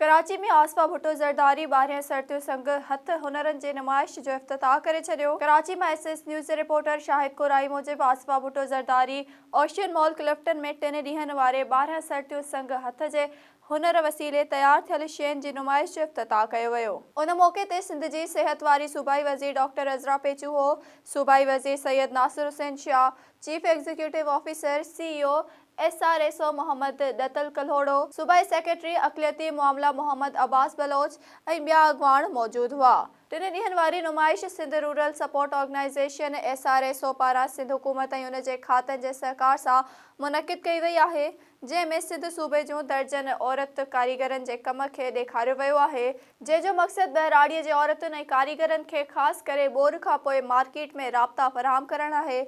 ڪراچي ۾ آصفه ڀٽو زرداري ٻارهين سر تيون سنگ هٿ هنرن جي نمائش جو افتتاح ڪري ڇڏيو ڪراچي مان ايس ايس نيوز جي رپورٽر شاهد ڪورائي موجب آصفه ڀٽو زرداري اوشين مال ڪلفٽن ۾ ٽن ڏينهن واري ٻارهن سر تيون سنگ هٿ جي هنر وسيلي تيار ٿيل شين جي نمائش جو افتتاح ڪيو ويو. ان موقعي تي سنڌ جي صحت واري صوبائي وزير ڊاڪٽر عذرا پيچوهو، صوبائي وزير Syed Nasir Hussain Shah, chief executive officer, C E O, S R S O Muhammad Dittal Kalhoro, صوبائي سيڪريٽري اقليتي معاملا محمد عباس بلوچ ۽ ٻيا اڳواڻ موجود هئا. ٽن ڏينهن واري نمائش Sindh rural support organisation, S R S O, پاران سنڌ حڪومت ۽ ان جي کاتن جي سهڪار سان منعقد ڪئي وئي آهي، جنهن ۾ سنڌ صوبي جون درجن عورت ڪاريگرن جي ڪم کي ڏيکاريو ويو آهي، جنهن جو مقصد ٻهراڙيء جي عورتن ۽ ڪاريگرن کي خاص ڪري ٻور کان پوء مارڪيٽ ۾ رابطا فراهم ڪرڻ آهي،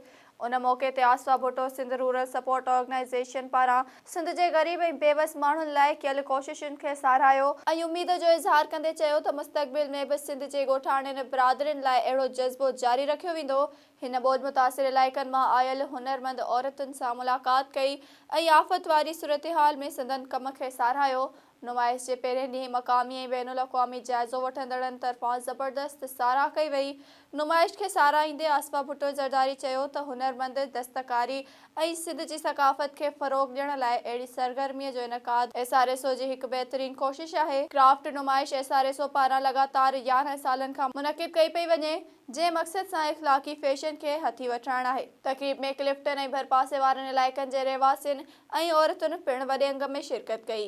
ان موقعي تي آسوا Bhutto Sindh rural support organisation پاران سنڌ جي غريب ۽ بيوس ماڻهن لاء ڪيل ڪوششن کي ساراهيو ۽ اميد جو اظهار ڪندي چيو ته مستقبل ۾ به سنڌ جي ڳوٺاڻين برادرين لاء اهڙو جذبو جاري رکيو ويندو. هن ٻوڏ متاثر علائقن مان آيل هنرمند عورتن سان ملاقات ڪئي ۽ آفت واري صورتحال ۾ سندن ڪم کي ساراهيو. نمائش جي پهرين ڏينهن مقامي ۽ بين الاقوامي جائزو وٺندڙن طرفان زبردست ساراهه ڪئي وئي. نمائش کي ساراهيندي آصفه ڀٽو زرداري چيو ته هنرمند دستڪاري ۽ سنڌ جي ثقافت کي فروغ ڏيڻ لاء اهڙي سرگرمي جو انعقاد ايس آر ايس او جي هڪ بهترين ڪوشش آهي. ڪرافٽ نمائش ايس آر ايس او پاران لڳاتار يارهن سالن کان منعقد ڪئي پئي وڃي جنهن مقصد سان اخلاقي فيشن کي هٿي وٺرائڻ آهي. تقريب ۾ ڪلفٽن ۽ ڀرپاسي وارن علائقن جي رهواسين، ۽ عورتن پڻ وڏي انگ ۾ شرڪت ڪئي.